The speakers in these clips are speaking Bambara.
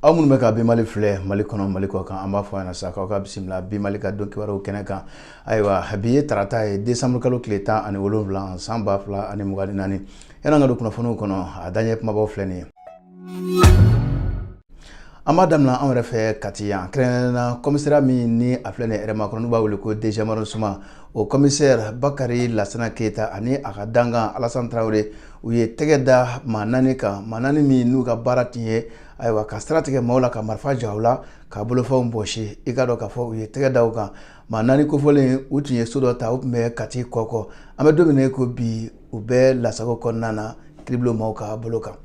aw minnu bɛ ka bi mali filɛ mali kɔnɔ mali kɔ kan an b'a fɔ ɲɛna sa k'aw ka bisimila bi mali ka don kibaruw kɛnɛ kan ayiwa bi ye tarata ye desanburu kalo tile tan ani wolonwula san ba fila ani mugan ni naani yan'an ka don kunnafoniw kɔnɔ a daɲɛ kumabaw filɛ nin ye an b'a daminɛ anw yɛrɛ fɛ kati yan kɛrɛnkɛrɛnnena commissariat min ni a filɛ nin hɛrɛmakɔnɔ n'u b'a wele ko deuxième arrondissement o kɔmisɛri bakari lasana keyita ani a ka dankan alasan tarawele u ye tɛgɛ da maa naani kan maa naani min n'u ka baara tun ye ayiwa ka sira tigɛ maaw la ka marifa ja u la ka bolofɛnw bɔsi i k'a dɔn k'a fɔ u ye tɛgɛ da u kan maa naani kofɔlen u tun ye so dɔ ta u tun bɛ kati kɔkɔ an bɛ don min ko bi u bɛ lasago kɔnɔna na kiribulon maaw ka bolo kan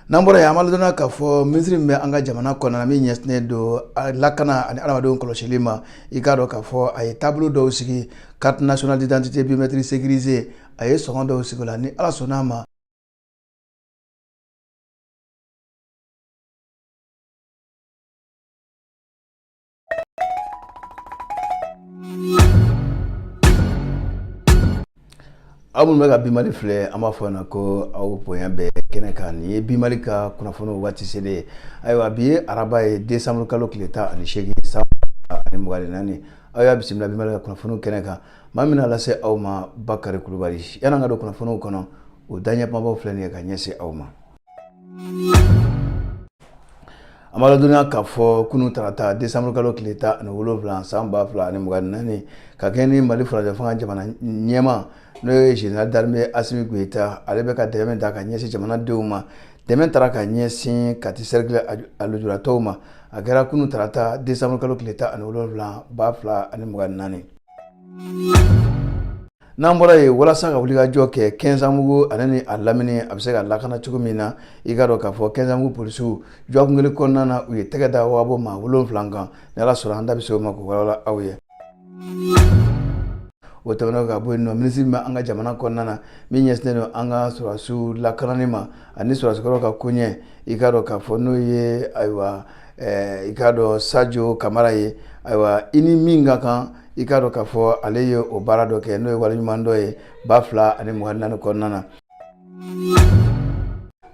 n'an bɔra yen an b'a ladɔnniya k'a fɔ minisiri min bɛ an ka jamana kɔnɔna min ɲɛsinnen don lakana ani adamadenw kɔlɔsili ma i k'a dɔn k'a fɔ a ye taabolo dɔw sigi carte nationale d'identité biométrique sécurisée a ye sɔngɔ dɔw sigi o la ni ala sɔnn'a ma aw minnu bɛ ka bimali filɛ an b'a fɔ yan ko aw bonya bɛ kɛnɛ kan nin ye bimali ka kunnafoniw waati selen ye ayiwa bi ye araba ye desanburu kalo tile tan ani seegin san ba fila ani mugan ni naani aw y'a bisimila bimali ka kunnafoniw kɛnɛ kan maa min bɛn'a lase aw ma bakari kulubali yan'an ka don kunnafoniw kɔnɔ o daɲɛkumabaw filɛ nin ye ka ɲɛsin aw ma an b'a ladɔnniya k'a fɔ kunu tarata desanburu kalo tile tan ani wolonwula san ba fila ani mugan ni naani ka kɛɲɛ ni mali furancɛ fanga jamana ɲɛmaa n'o ye général d'armée asimi goyita ale bɛ ka dɛmɛ min ta ka ɲɛsin jamanadenw ma dɛmɛ taara ka ɲɛsin kati cercle a lujuratɔw ma a kɛra kunu tarata desanburu kalo tile tan ani wolonwula ba fila ani mugan ni naani n'an bɔra yen walasa ka wulikajɔ kɛ kɛnsanbugu ale ni a lamini a bɛ se ka lakana cogo min na i k'a dɔn k'a fɔ kɛnsanbugu polisiw dɔgɔkun kelen kɔnɔna na u ye tɛgɛ da wagabɔn maa wolonwula kan ni ala sɔnna an da bɛ se o ma k'o walawala aw ye o tɛmɛnen ka bɔ yen nɔ minisiri min bɛ an ka jamana kɔnɔna na min ɲɛsinnen don an ka sɔrɔdasiw lakanani ma ani sɔrɔdasikɔrɔw ka koɲɛ i k'a dɔn k'a fɔ n'o ye ayiwa i k'a dɔn sajo kamara ye ayiwa i ni min ka kan i k'a dɔn k'a fɔ ale ye o baara dɔ kɛ n'o ye waleɲuman dɔ ye ba fila ani mugan ni naani kɔnɔna na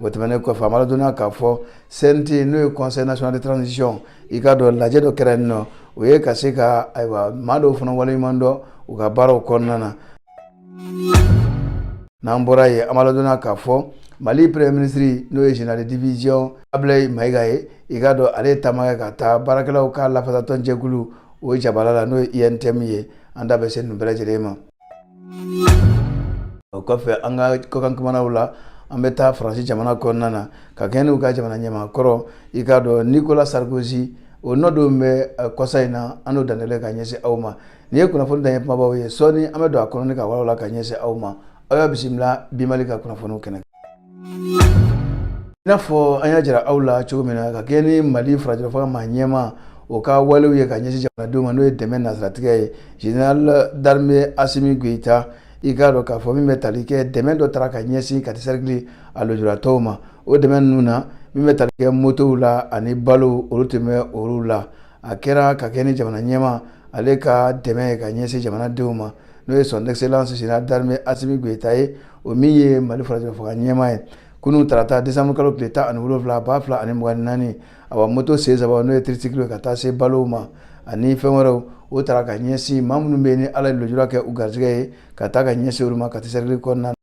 o tɛmɛnen kɔfɛ an b'aw ladɔnniya k'a fɔ CNT n'o ye conseil national de transition i k'a dɔn lajɛ dɔ kɛra yen nɔ o ye ka se ka ayiwa maa dɔw fana waleɲuman dɔn u ka baaraw kɔnɔna na n'an bɔra yen an b'aw ladɔnniya k'a fɔ mali premier ministre n'o ye général de division ablaye mayiga ye i k'a dɔn ale ye taama kɛ ka taa baarakɛlaw ka lafasatɔn jɛkulu o ye jabala la n'o ye UNTM ye an da bɛ se nin bɛɛ lajɛlen ma o kɔfɛ an ka kɔkan kumanaw la an bɛ taa faransi jamana kɔnɔna na ka kɛɲɛ n'u ka jamana ɲɛmaa kɔrɔ i k'a dɔn nicolas sarkozy o nɔ don bɛ kɔsa in na an n'o dantɛlen ka ɲɛsin aw ma nin ye kunnafoni daɲɛ kumabaw ye sɔɔni an bɛ don a kɔnɔ ni k'a walawala ka ɲɛsin aw ma aw y'a bisimila bi mali ka kunnafoniw kɛnɛ i n'a fɔ an y'a jira aw la cogo min na ka kɛɲɛ ni mali furancɛla fanga maa ɲɛmaa o ka walew ye ka ɲɛsin jamanadenw ma n'o ye dɛmɛ nasiratigɛ ye général d'armée Assimi Goïta i k'a dɔn k'a fɔ min bɛ tali kɛ dɛmɛ dɔ taara ka ɲɛsin kati sɛrikili a lujuratɔw ma o dɛmɛ ninnu na min bɛ tali kɛ motow la ani balow olu tun bɛ olu la a kɛra ka kɛɲɛ ni jamana ɲɛmaa ale ka dɛmɛ ye ka ɲɛsin jamanadenw ma n'o ye son excellence général d'armée Assimi Goïta ye o min ye Mali furancɛla fanga ɲɛmaa ye kunun tarata décembre kalo tile tan ani wolonwula ba fila ani mugan ni naani awa moto sen saba n'o ye tricycle ye ka taa se balow ma ani fɛn wɛrɛw o tara ka ɲɛsin maa minnu bɛ yen ni ala ye lujura kɛ u garijɛgɛ ye ka taa ka ɲɛsin olu ma kati sɛrikili kɔnɔna na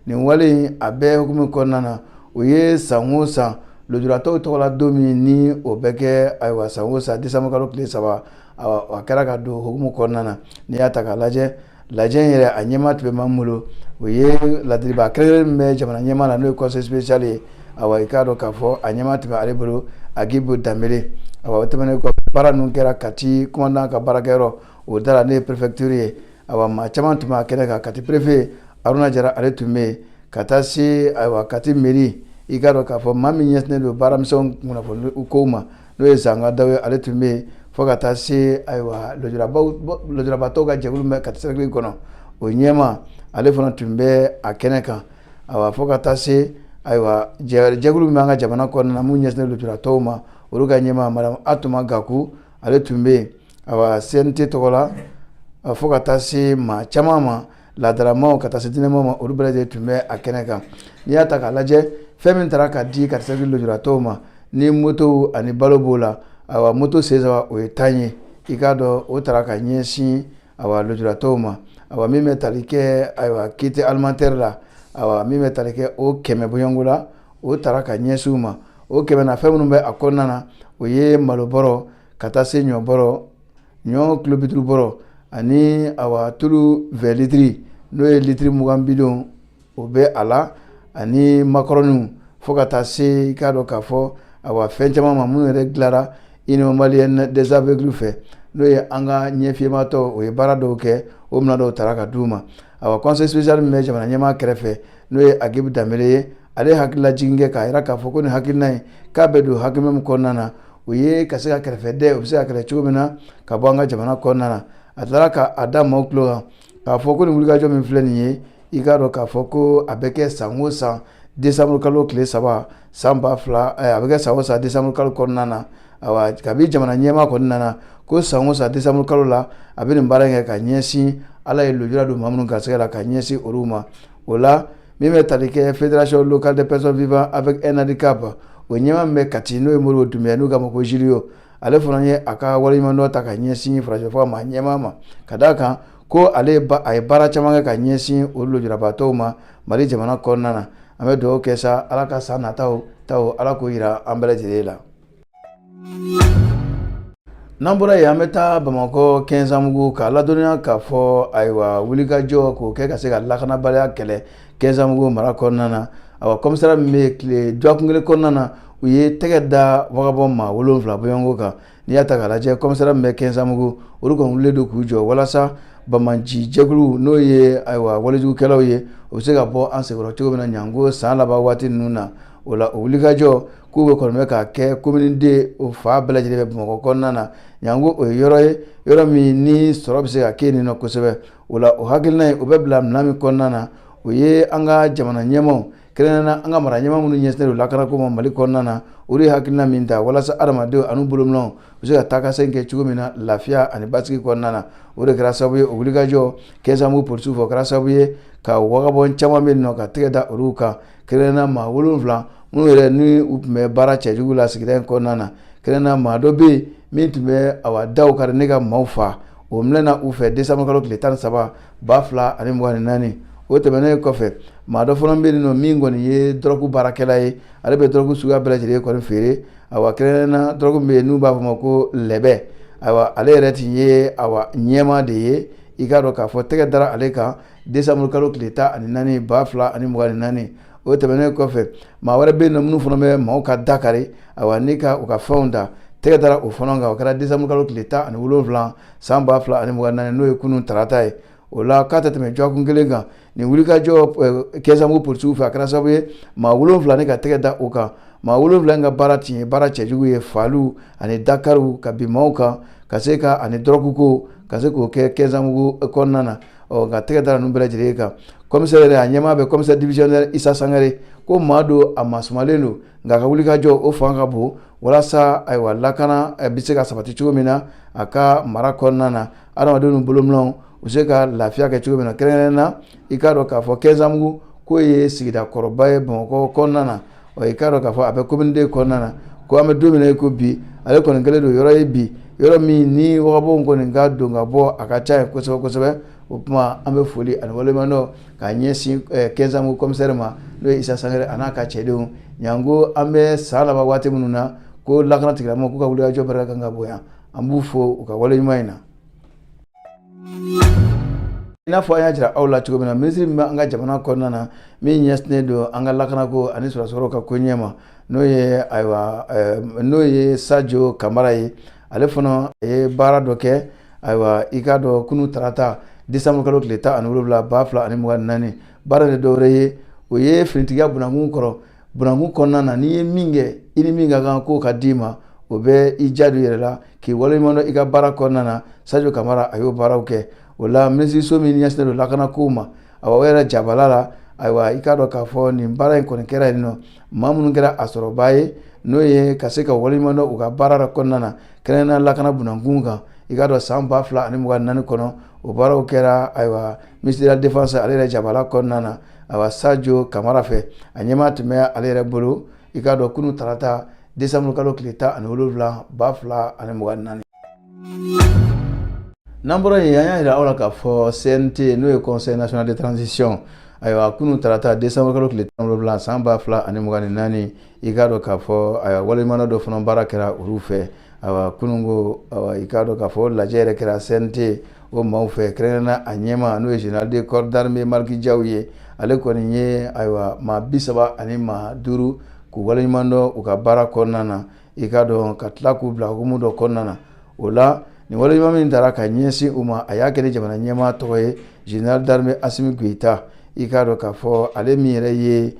nin wale in a bɛɛ hukumu kɔnɔna na o ye san o san lujuratɔw tɔgɔla don min ni o bɛ kɛ ayiwa san o san décembre kalo tile saba a kɛra ka don hukumu kɔnɔna na n'i y'a ta k'a lajɛ lajɛ in yɛrɛ a ɲɛmaa tun bɛ maa min bolo o ye ladilibaa kɛrɛnkɛrɛn min bɛ jamana ɲɛmaa na n'o ye conseiller spécial ye awa i k'a dɔn k'a fɔ a ɲɛmaa tun bɛ ale bolo agibu danbele awa o tɛmɛnen kɔ baara ninnu kɛra kati komandan ka baarakɛyɔrɔ o da la n'o ye perefektiri ye awa maa caman tun b'a kɛnɛ kan kati perefe aruna jara ale tun bɛ yen ka taa se ayiwa kati mɛri i k'a dɔn k'a fɔ maa min ɲɛsinnen don baaramisɛn kunnafoni kow ma n'o ye zanga dawo ye ale tun bɛ yen fo ka taa se ayiwa lujurabatɔw ka jɛkulu bɛ kati sɛrikili kɔnɔ o ɲɛmaa ale fana tun bɛ a kɛnɛ kan awa fo ka taa se ayiwa jɛkulu bɛ an ka jamana kɔnɔna na min ɲɛsin lujuratɔw ma olu ka ɲɛmaa madamu atuma gaku ale tun bɛ yen awa CNT tɔgɔ la fo ka taa se maa caman ma laadalamaw ka taa se diinɛmaaw ma olu bɛɛ lajɛlen tun bɛ a kɛnɛ kan n'i y'a ta k'a lajɛ fɛn min taara ka di kati sɛrikili lujuratɔw ma ni moto ani balo b'o la ayiwa moto sen saba o ye tan ye i k'a dɔn o taara ka ɲɛsin ayiwa lujuratɔw ma ayiwa min bɛ tali kɛ ayiwa kit alimentaire la ayiwa min bɛ tali kɛ o kɛmɛ bɔɲɔnko la o taara ka ɲɛsin u ma o kɛmɛ na fɛn minnu bɛ a kɔnɔna na o ye malobɔrɔ ka taa se ɲɔbɔrɔ ɲɔ kilo biduuru bɔrɔ ani awa tulu vɛ litiri n'o ye litiri mugan bidon o bɛ a la ani makɔrɔniw fo ka taa se i k'a dɔn k'a fɔ awa fɛn caman ma minnu yɛrɛ dilara union malienne des aveugles fɛ n'o ye an ka ɲɛfiyematɔ o ye baara dɔw kɛ o minɛn dɔw taara ka di u ma awa conseiller spécial min bɛ jamana ɲɛmaa kɛrɛfɛ n'o ye Agibu Danbele ye ale hakililajigin kɛ k'a jira k'a fɔ ko nin hakilina in k'a bɛ don hakilina min kɔnɔna na o ye ka se ka kɛrɛfɛdɛn o bɛ se ka kɛlɛ cogo min na ka bɔ an ka jamana kɔnɔna na a taara k'a da maaw tulo kan k'a fɔ ko nin wulikajɔ min filɛ nin ye i k'a dɔn k'a fɔ ko a bɛ kɛ san o san desanburukalo tile saba san ba fila a bɛ kɛ san o san desanburukalo kɔnɔna na ayiwa kabi jamana ɲɛmaa kɔni nana ko san o san desanburu kalo la a bɛ nin baara kɛ ka ɲɛsin ala ye lujura don maa minnu garisɛgɛ la ka ɲɛsin olu ma o la min bɛ tali kɛ fédération locale des personnes vivant avec un handicap o ɲɛmaa min bɛ Kati n'o ye Modibo Dunbiya n'u k'a ma ko Julio ale fana ye a ka waleɲumandɔn ta ka ɲɛsin furancɛfanga ɲɛmaa ma ka d'a kan ko ale a ye baara caman kɛ ka ɲɛsin o lujurabaatɔw ma mali jamana kɔnɔna na an bɛ dugawu kɛ sa ala ka san nataw ala k'o jira an bɛɛ lajɛlen la N'an bɔra yen an bɛ taa bamakɔ kɛnzanbugu k'a ladɔnniya k'a fɔ ayiwa wulikajɔ k'o kɛ ka se ka lakanabaliya kɛlɛ kɛnzanbugu mara kɔnɔna na awa komisariya min bɛ tile dɔgɔkun kelen kɔnɔna na u ye tɛgɛ da wagabɔ maa wolonwula bɔɲɔgɔnko kan n'i y'a ta k'a lajɛ komisariya min bɛ kɛnzanbugu olu kɔni wulilen don k'u jɔ walasa banbaancijɛkulu n'o ye ayiwa walejugukɛlaw ye u bɛ se ka bɔ an senkɔrɔ cogo min na janko san laban waati ninnu na o la wulikajɔ k'u bɛ kɔni k'a kɛ commune deux o fan bɛɛ lajɛlen bɛ bamakɔ kɔnɔna na janko o ye yɔrɔ ye yɔrɔ min ni sɔrɔ bɛ se ka kɛ nin na kosɛbɛ o la o hakilina in o bɛ bila minɛn min kɔnɔna na o ye an ka jamana ɲɛmaaw kɛrɛnkɛrɛnnenya an ka mara ɲɛmaa minnu ɲɛsinnen don lakanako ma mali kɔnɔna na o ye hakilina min ta walasa hadamadenw ani bolominɛnw u bɛ se ka taakasegin kɛ cogo min na lafiya ani basigi kɔnɔna na o de kɛra sababu ye o wulikajɔ kɛnzanbugu polisiw fɛ kɛra sababu ye ka wagabɔ caman minɛ ka tɛgɛ da olu kan Kɛrɛnkɛrɛnnenya maa wolonwula minnu yɛrɛ ni u tun bɛ baara cɛjugu la sigida in kɔnɔna na kɛrɛnkɛrɛnnenya maa dɔ bɛ yen min tun bɛ awa daw kari ni ka maaw faa o minɛna u fɛ desanburukalo tile tan ni saba ba fila ani mugan ni naani o tɛmɛnen kɔfɛ maa dɔ fana bɛ nɔ min kɔni ye dɔrɔgu baarakɛla ye ale bɛ dɔrɔgu suguya bɛɛ lajɛlen kɔni feere awa kɛrɛnkɛrɛnnenya dɔrɔgu min bɛ yen n'u b'a fɔ ma ko lɛbɛ ayiwa ale yɛrɛ tun ye awa ɲɛmaa de ye i k'a dɔn k'a fɔ tɛgɛ dara ale kan décembre kalo tile tan ani naani ba fila ani mugan ni naani o tɛmɛnen kɔfɛ maa wɛrɛ bɛ yen nɔ minnu fana bɛ maaw ka da kari awa ni ka u ka fɛnw ta tɛgɛ dara o fana kan o kɛra décembre kalo tile tan ani wolonwula san ba fila ani mugan naani n'o ye kunun tarata ye o la k'a tɛ tɛmɛ dɔgɔkun kelen kan nin wulikajɔ kɛnzanbugu polisiw fɛ a kɛra sababu ye maa wolonwula ni ka tɛgɛ da o kan maa wolonwula in ka baara tun ye baara cɛjugu ye faaliw ani dakariw ka bin maaw kan ka se ka ani dɔrɔguko ka se k'o kɛ kɛnzanbugu kɔnɔna na ɔ nka tɛgɛ dara ninnu bɛɛ lajɛlen kan commissaire yɛrɛ a ɲɛmaa bɛ commissaire divisionnaire isa sangare ko maa don a masumalen don nka a ka wulikajɔ o fanga ka bon walasa ayiwa lakana bɛ se ka sabati cogo min na a ka mara kɔnɔna na adamadenw bolominɛnw u se ka lafiya kɛ cogo min na kɛrɛnna i k'a dɔn k'a fɔ kɛnzanbugu k'o ye sigida kɔrɔba ye bamakɔ kɔnɔna na ɔ i k'a dɔn k'a fɔ a bɛ commune deux kɔnɔna na ko an bɛ don min i ko bi ale kɔni kɛlen don yɔrɔ ye bi yɔrɔ min ni wagabɔnw kɔni ka don ka bɔ a ka ca yen kosɛbɛ kosɛbɛ o tuma an bɛ foli ani waleɲumandɔn k'a ɲɛsin kɛnzanbugu commissaire ma n'o ye isa sangare a n'a ka cɛdenw janko an bɛ san laban waati minnu na ko lakana tigilamaaw k'u ka wulikajɔ barika kan ka bonya an b'u fo u ka wale ɲuman in na I n'a fɔ an y'a jira aw la cogo min na minisiri min bɛ an ka jamana kɔnɔna na min ɲɛsinnen don an ka lakanako ani sɔrɔdasi kɔrɔw ka koɲɛ ma n'o ye ayiwa eh, n'o ye sajo kamara ye ale fana ye baara dɔ kɛ ayiwa i k'a dɔn kunun tarata desanburu kalo tile tan ani wolonwula ba fila ani mugan ni naani baara tɛ dɔwɛrɛ ye o ye finitigiya bunakun kɔrɔ Bunakun kɔnɔna na n'i ye min kɛ i ni min ka kan k'o ka d'i ma o bɛ i diya don i yɛrɛ la k'i waleɲumandɔn i ka baara kɔnɔna na sajo kamara a y'o baaraw kɛ o la minisiriso min ɲɛsinnen don lakana ko ma awa o yɛrɛ jabala la ayiwa i k'a dɔn k'a fɔ nin baara in kɔni kɛra yen nɔ maa minnu kɛra a sɔrɔbaa ye n'o ye ka se ka waleɲumandɔn u ka baara kɔnɔna na kɛrɛnna lakana bunakun kan i k'a dɔn san ba fila ani mugan naani kɔnɔ o baaraw kɛra ayiwa ministère de la défense ale yɛrɛ jabala kɔnɔna na awa sajo kamara fɛ a ɲɛmaaya tun bɛ ale yɛrɛ bolo i k'a dɔn kunun tarata desanburu kalo tile tan ani wolonwula ba fila ani mugan naani n'an bɔra yen an y'a jira aw la k'a fɔ cnt n'o ye conseil national de transition ayiwa kunun tarata desanburu kalo tile tan wolonwula san ba fila ani mugan ni naani i k'a dɔn k'a fɔ ayiwa waleɲumandɔn dɔ fana baara kɛra olu fɛ ayiwa kununko ayiwa i k'a dɔn k'a fɔ lajɛ yɛrɛ kɛra cnt o maaw fɛ kɛrɛnna a ɲɛmaa n'o ye général de corps d'armée maliki jaw ye ale kɔni ye ayiwa maa bi saba ani maa duuru k'u waleɲumandɔn u ka baara kɔnɔna na i k'a dɔn ka tila k'u bila hukumu dɔ kɔnɔna na o la nin waleɲuman min taara ka ɲɛsin u ma a y'a kɛ ni jamana ɲɛmaa tɔgɔ ye général d'armée asimi goyita i k'a dɔn k'a fɔ ale min yɛrɛ ye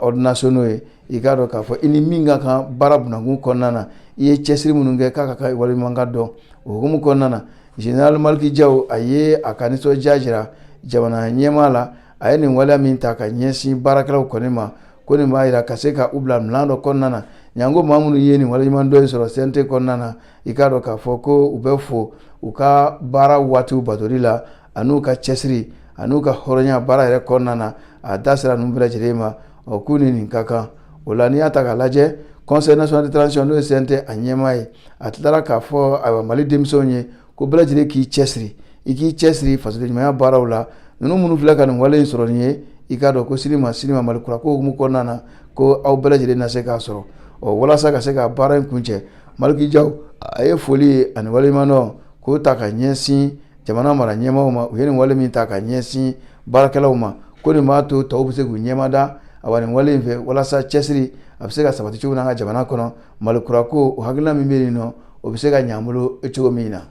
ordres nationaux ye i k'a dɔn k'a fɔ i ni min ka kan baara bunakun kɔnɔna na i ye cɛsiri minnu kɛ k'a ka kan ka waleɲuman dɔn o hukumu kɔnɔna na Général Maliki Diaw a ye a ka nisɔndiya jira jamana ɲɛmaa la, a ye nin waleya min ta ka ɲɛsin baarakɛlaw kɔni ma, ko nin b'a jira ka se ka u bila minɛn dɔ kɔnɔna na, janko maa minnu ye nin waleɲumandɔn in sɔrɔ CNT kɔnɔna na, i k'a dɔn k'a fɔ ko u bɛ fo u ka baara waatiw batoli la, an'u ka cɛsiri, an'u ka hɔrɔnya baara yɛrɛ kɔnɔna na, a da sera ninnu bɛɛ lajɛlen ma, ɔ k'u ni nin ka kan. o la n'i y'a ta k'a lajɛ Conseil national de transition n'o ye CNT a ɲɛmaa ye a tilara k'a fɔ a mali denmisɛnw ye ko bɛɛ lajɛlen k'i cɛsiri i k'i cɛsiri fasodenɲumanya baaraw la ninnu minnu filɛ ka nin wale in sɔrɔ nin ye i k'a dɔn ko sini ma sini ma mali kurako hukumu kɔnɔna na ko aw bɛɛ lajɛlen na se k'a sɔrɔ ɔ walasa ka se ka baara in kuncɛ Maliki Diaw a ye foli ye ani waleɲumandɔn k'o ta ka ɲɛsin jamana mara ɲɛmaaw ma u ye nin wale min ta ka ɲɛsin baarakɛlaw ma ko nin b'a to tɔw bɛ se k'u ɲɛmada awa nin wale in fɛ walasa cɛsiri a bɛ se ka sabati cogo min na an ka jamana kɔnɔ Mali kurako o hakilina min bɛ yen nɔ o bɛ se ka ɲɛ an bolo cogo min na.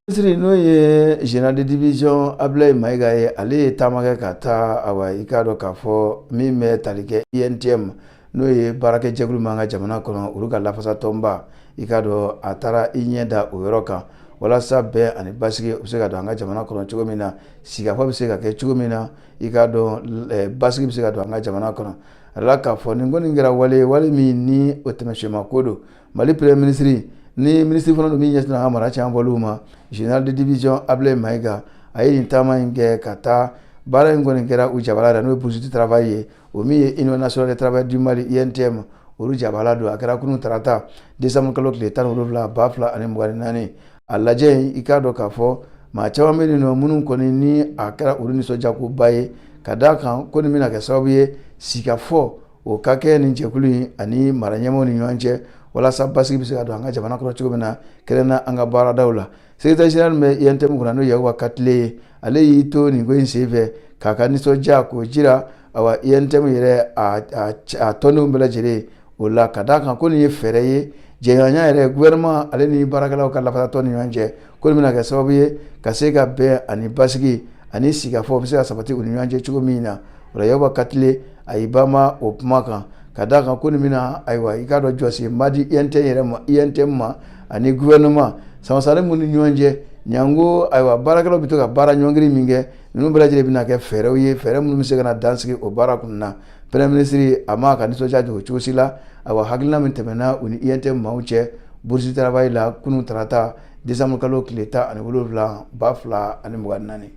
minisiri n'o ye général de division abulayi mayiga ye ale ye taama kɛ ka taa awa i k'a dɔn k'a fɔ min bɛ tali kɛ UNTM n'o ye baarakɛjɛkulu min an ka jamana kɔnɔ olu ka lafasatɔnba i k'a dɔn a taara i ɲɛ da o yɔrɔ kan walasa bɛn ani basigi u bɛ se ka don an ka jamana kɔnɔ cogo min na sigikafɔ bɛ se ka kɛ cogo min na i k'a dɔn eh, basigi bɛ se ka don an ka jamana kɔnɔ a la k'a fɔ nin kɔni kɛra wale wale min ni o tɛmɛsiyɛnma ko don mali premier minisiri ni minisiri fana don min ɲɛsin an ka mara cɛmabɔliw ma général de division ablaye mayiga a ye nin taama in kɛ ka taa baara in kɔni kɛra u jabala yɛrɛ n'o ye bourse du travail ye o min ye Union nationale des travailleurs du Mali UNTM olu jabala don a kɛra kunun tarata décembre kalo tile tan ni wolonwula ba fila ani mugan ni naani a lajɛ i k'a dɔn k'a fɔ maa caman bɛ yen nɔ minnu kɔni ni a kɛra olu nisɔndiyakoba ye ka d'a kan ko nin bɛna kɛ sababu ye sigikafɔ o ka kɛ nin jɛkulu in ani mara ɲɛmaaw ni ɲɔgɔn cɛ walasa basigi bɛ se ka don an ka jamana kɔnɔ cogo min na kɛrɛnkɛrɛnnenya an ka baaradaw la secrétaire général bɛ UNTM kunna n'o ye Yakuba Katile ye ale y'i to nin ko in senfɛ k'a ka nisɔndiya k'o jira awa UNTM yɛrɛ a tɔndenw bɛɛ lajɛlen o la ka d'a kan ko nin ye fɛɛrɛ ye jɛɲɔgɔnya yɛrɛ gouvernement ale ni baarakɛlaw ka lafasatɔn ni ɲɔgɔn cɛ ko nin bɛna kɛ sababu ye ka se ka bɛn ani basigi ani sigikafɔ bɛ se ka sabati u ni ɲɔgɔn cɛ cogo min na Yakuba Katile a y'i banban o kuma kan ka da a kan ko nin bɛna ayiwa i k'a dɔn jɔse madi UNTM yɛrɛ ma UNTM ma ani gouvernement sansari minnu ni ɲɔgɔn cɛ janko ayiwa baarakɛlaw bɛ to ka baara ɲɔngiri min kɛ ninnu bɛɛ lajɛlen bɛna kɛ fɛɛrɛw ye fɛɛrɛ minnu bɛ se ka dan sigi o baara kun na premier minisiri a m'a ka nisɔndiya dogo cogo si la a hakilina min tɛmɛna u ni UNTM maaw cɛ bourse du travail la kunun tarata décembre kalo tile tan ani wolonwula ba fila ani mugan ni naani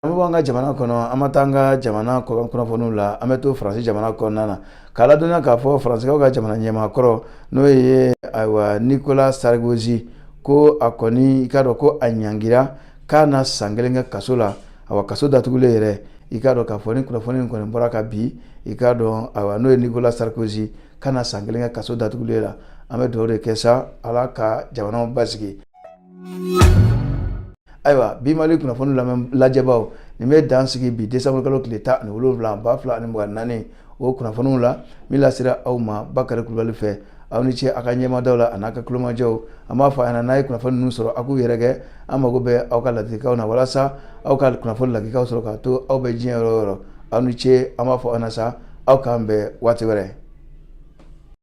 an bɛ bɔ an ka jamana kɔnɔ an ma taa an ka jamana kɔkan kunnafoniw la an bɛ to faransi jamana kɔnɔna na k'a ladɔnniya k'a fɔ faransikaw ka jamana ɲɛmaakɔrɔ n'o ye ayiwa nicolas sarkozy ko a kɔni i k'a dɔn ko a ɲangira k'a na san kelen kɛ kaso la awa kaso datugulen yɛrɛ i k'a dɔn k'a fɔ ni kunnafoni in kɔni bɔra ka bi i k'a dɔn ayiwa n'o ye nicolas sarkozy k'a na san kelen kɛ kaso datugulen la an bɛ dugawu de kɛ sa ala ka jamanaw basigi ayiwa bi mali kunnafoni lamɛn lajɛbaaw nin bɛ dan sigi bi desanburukalo tile tan ani wolonwula ba fila ani mugan naani o kunnafoniw la min lasera aw ma bakari kulubali fɛ aw ni ce a ka ɲɛmadaw la an'a ka kulomajɔw an b'a fɔ a ɲɛna n'a ye kunnafoni ninnu sɔrɔ a k'u yɛrɛkɛ an mago bɛ aw ka ladilikanw na walasa aw ka kunnafoni ladilikanw sɔrɔ k'a to aw bɛ diɲɛ yɔrɔ o yɔrɔ aw ni ce an b'a fɔ aw na sa aw k'an bɛn waati wɛrɛ